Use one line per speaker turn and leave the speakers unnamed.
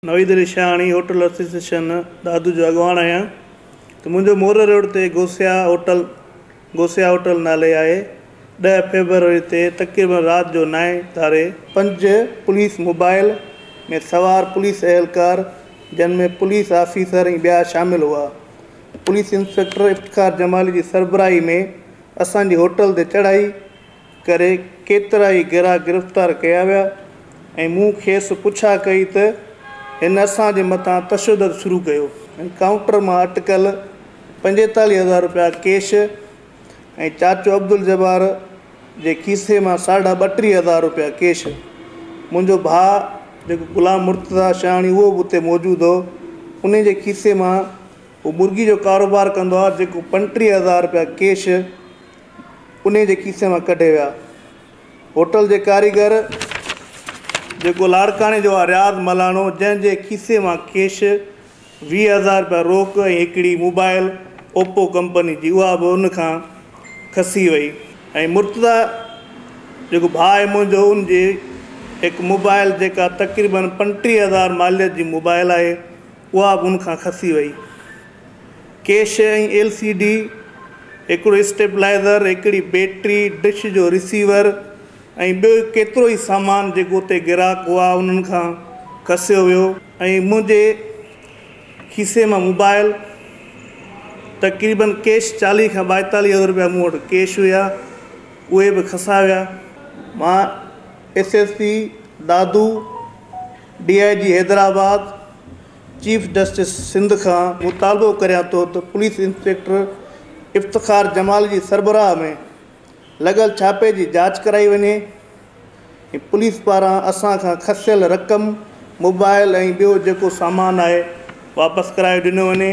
Naveed Ali Shahani, hotel association Dadu جو اڳواڻ آهيان ته منهنجو موري روڊ تي گوسيا هوٽل Gosia Hotel نالي آهي ڏهه فيبروري تي تقريبن رات جو نائين ڌاري، پنج پوليس موبائيل ۾ سوار پوليس اهلڪار جن ۾ پوليس آفيسر ۽ ٻيا شامل هئا پوليس انسپيڪٽر افتخار جمالي جي سربراهي ۾ اسان جي هوٽل تي چڙهائي، ڪري ڪيترائي گرا گرفتار ڪيا ويا ۽ مون کيس پڇا ڪئي ته هن اسان جي مٿان تشدد شروع ڪيو ۽ ڪائونٽر مان اٽڪل پنجيتاليهه هزار رپيا ڪيش ۽ چاچو عبدالجبار جي کيسي مان ساڍا ٻٽيهه هزار رپيا ڪيش منهنجو ڀاء جيڪو غلام مرتضيٰ شياڻي اهو به اتي موجود هو انهي جي کيسي مان هو مرغي جو ڪاروبار ڪندو آهي جيڪو پنجٽيهه هزار رپيا ڪيش انهيء جي کيسي مان ڪڍي ويا. هوٽل جي ڪاريگر جيڪو لاڙڪاڻي جو آ رياض ملاڻو جنهن جي کيسي مان ڪيش، ويهه هزار رپيا روڪ ۽ هڪڙي موبائل اوپو ڪمپني جي اها به ان کان کسي وئي ۽ مرتضيٰ جيڪو ڀاء آهي منهنجو ان جي هڪ موبائل جيڪا تقريبن پنٽيهه هزار ماليت جي موبائل آهي. اها به ان کان کسي وئي. ڪيش ۽ ايل سي ڊي، هڪڙو اسٽيبلائيزر، هڪڙي بيٽري، ڊش جو رسيور ۽ ٻيو ڪيترو ئي سامان جيڪو اتي گراهڪ هئا انهن کان کسيو ويو ۽ منهنجي کيسي مان موبائل تقريباً ڪيش چاليهه کان ٻائيتاليهه هزار رپيا مون وٽ ڪيش هيا اهي به کسايا ويا. مان S S P Dadu D I G Hyderabad chief justice Sindh کان مطالبو ڪريان ٿو ته پوليس انسپيڪٽر افتخار جمال جي سربراهه ۾ لڳل ڇاپي جي جاچ ڪرائي وڃي ۽ پوليس پاران اسان کان کسيل رقم موبائل ۽ ٻيو جيڪو سامان آهي واپس ڪرائي ڏنو وڃي